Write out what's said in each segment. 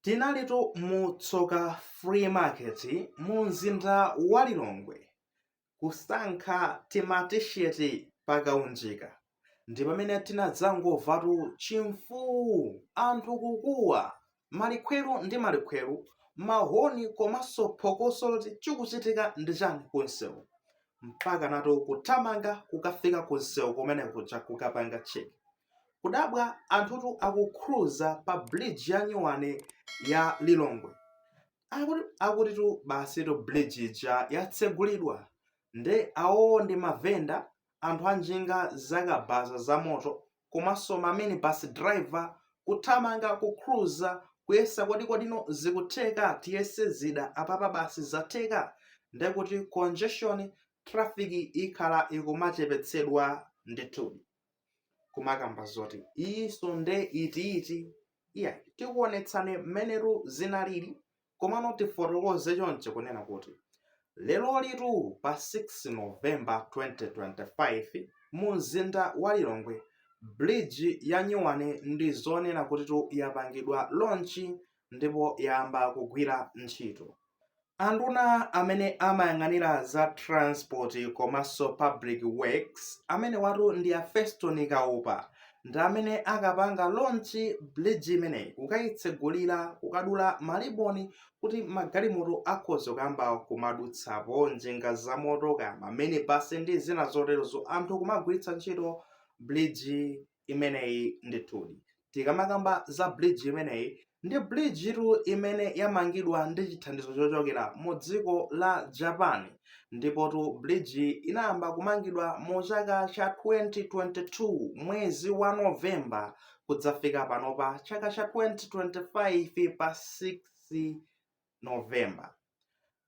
Tinalitu mu Tsoka Flea Market mu mzinda wa Lilongwe kusankha tima T-shirt pa kaunjika ndi pamene tinadzangomvatu chimfuu, anthu kukuwa, malikhweru ndi malikhweru, mahoni komanso phokoso loti chikuchitika ndi chani ku msewu mpaka nafe kuthamanga kukafika ku msewu kumene kuja kukapanga check. Kudabwa anthutu akukhruza pa bridge ya nyuwani ya Lilongwe akutitu basitu bridge ija yatsegulidwa nde awowo ndi ma vendor, anthu a njinga za kabaza za moto komanso ma minibus driver kuthamanga kukhruza kuyesa kuti kodino zikutheka tiyese zida apapa basi zatheka ndekuti congestion traffic ikhala ikumachepetsedwa ndithudi. kumakamba zoti iyinso nde itiiti iyayi tikuonetseni mmenetu zinalili komano tifotokoze chonchi kunena kuti lerolitu pa 6 novemba 2025 mu mzinda wa lilongwe bridge ya nyuwani ndi zoona kutitu yapangidwa lonchi ndipo yayamba kugwira ntchito. Anduna amene amayang'anira za transport komanso public works amenewatu ndi a Feston Kaupa ndi amene akapanga launch bridge imeneyi kukayitsegulira kukadula maliboni kuti magalimoto akhoza kuyamba kumadutsapo njinga zamoto kaya ma minibus ndi zina zoterozo anthu kumagwiritsa ntchito bridge imeneyi ndithudi tikamakamba za bridge imeneyi ndi bridge tu imene yamangidwa ndi chithandizo chochokera mu dziko la japan ndipotu bridge inayamba kumangidwa mu chaka cha 2022 mwezi wa novemba kudzafika panopa chaka cha 2025 pa 6 November.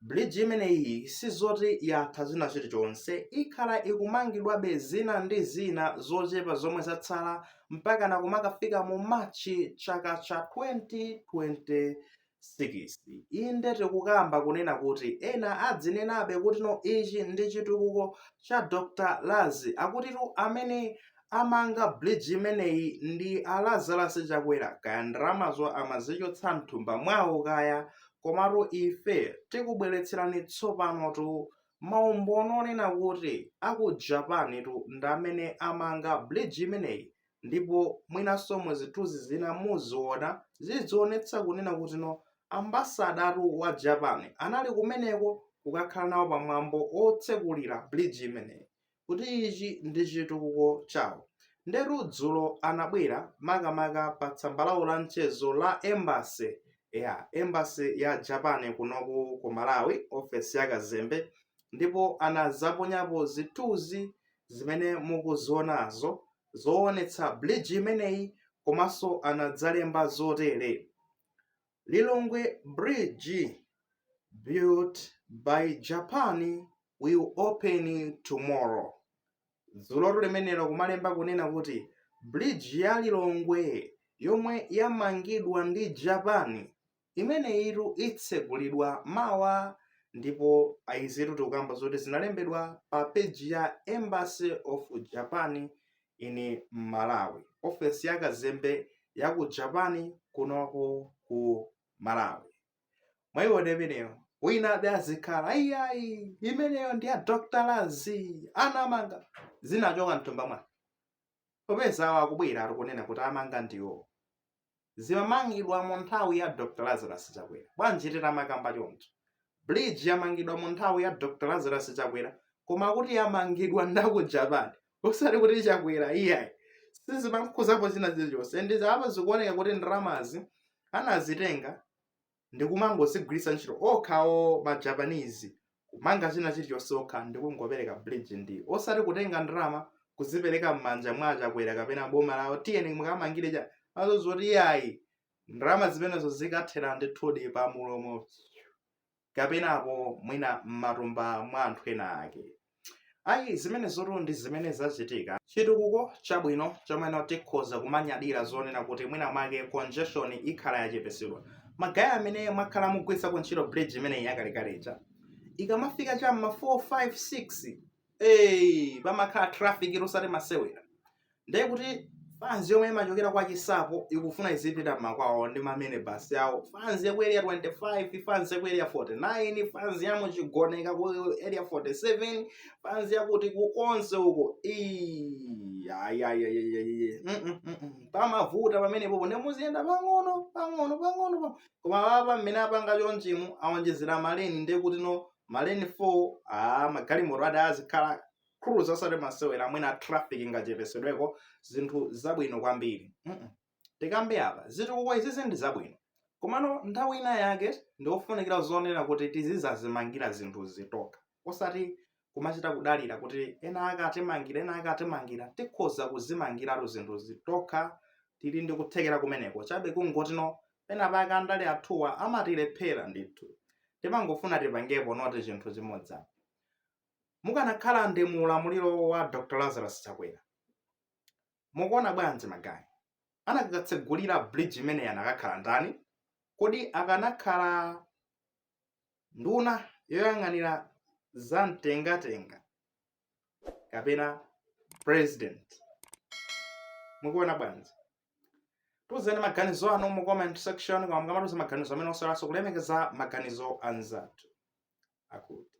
Bridge imeneyi sizoti yatha china chilichonse, ikhala ikumangidwabe zina ndi zina zochepa zomwe zatsala mpakana kumakafika mu March chaka cha 2026. Inde tikukamba kunena kuti ena adzinenabe kuti no ichi ndi chitukuko cha Dr Lazi akutitu amene amanga bridge imeneyi ndi a Lazarus Chakwera kaya ndalamazo amazichotsa mthumba mwawo kaya komatu ife tikubweretserani tsopanotu maumboni onena kuti a ku Japan tu ndi amene amanga bridge imeneyi ndipo mwinanso mu zithunzi zina muziona zizionetsa kunena kuti no ambasadatu wa Japan anali kumeneko kukakhala nawo pamwambo otsekulira bridge imeneyi kuti ichi ndi chitukuko chawo ndetu dzulo anabwera makamaka pa tsamba lawo la mchezo la embassy ya embassy ya japan kunoku ku malawi ofesi ya kazembe ndipo anadzaponyapo zithunzi zimene mukuzionazo zoonetsa bridge imeneyi komanso anadzalemba zotere Lilongwe Bridge built by Japan will open tomorrow. Dzulotu limenelo kumalemba kunena kuti bridge ya Lilongwe yomwe yamangidwa ndi Japan imeneyitu itsegulidwa mawa ndipo izitu tikukamba zoti zinalembedwa pa peji ya Embassy of Japan in Malawi. Ofesi ya kazembe ya ku Japan kunoku ku Malawi. Mwaiona imeneyo winabe azikhala ayiayi imeneyo ndi ya Dr. Lazi anamanga zinachoka mthumba mwani popeza awo akubweratu kunena kuti amanga ndiwo zimamangidwa mu nthawi ya Dr. Lazarus Chakwera. Bwanji titamakamba choncho? Bridge yamangidwa mu nthawi ya Dr. Lazarus Chakwera koma kuti yamangidwa ndaku Japan. Osati kuti Chakwera iyayi. Sizimamkhuzapo china chilichonse. Ndi apa zikuoneka kuti ndalamazi anazitenga ndi kumangozigwiritsa ntchito okhawo ma Japanese kumanga china chilichonse okha ndi kungopereka bridge ndi osati kutenga ndalama kuzipereka m'manja mwa achakwera kapena boma lawo tiyeni mukamangire za zoti iyayi ndalama zimenezo zikathera ndithudi pa mulomo kapenapo mwina m'matumba mwa anthu ena ake Ayi, zimenezotu ndi zimene zachitika. Chitukuko chabwino chomweno tikhoza kumanyadira zonena kuti mwina mwake congestion ikhala yachepetsedwa. Ma guy amene mwakhala mukugwiritsako ntchito bridge imeneyi yakalekale ija, ikamafika cha m'ma 4, 5, 6, eeyi pamakhala traffic osati masewera. ndiye kuti fanzi yomwe imachokera kwa chinsapo ikufuna izipita mmakwawo ndi mamene basi yawo fanzi yaku area 25 fanzi yaku area 49 fanzi yamu chigoneka ku area 47 fanzi yakuti konse uko pamavuta pamenepo ndi muziyenda pang'ono pang'ono pang'ono koma apa mmene apanga chonchimu awonjezera maleni ndiye kuti no maleni 4 a magalimoto azikhala akuluza osati masewera amwene traffic ingachepetsedweko zinthu zabwino kwambiri mm -mm. tikambe apa zitukuko izizi ndi zabwino komano nthawi ina yake ndiofunikira zonena kuti tizidzazimangira zinthuzi tokha osati kumachita kudalira kuti ena ake atimangira ena ake atimangira tikhoza kuzimangiratu zinthuzi tokha tili ndi kuthekera kumeneko chabe kungotino pena pake andale athuwa amatilephera ndithu timangofuna tipangepo noti chinthu chimodzi apa mukanakhala ndi mu ulamuliro wa Dr. Lazarus Chakwera mukuona bwanji magayi anakatsegulira bridge imeneyi anakakhala ndani kodi akanakhala nduna yoyang'anira za mtengatenga kapena president mukuona bwanji tuzeni maganizo anu mu comment section koma mukamatiuza maganizo amene osaiwalanso kulemekeza maganizo a anzathu akuti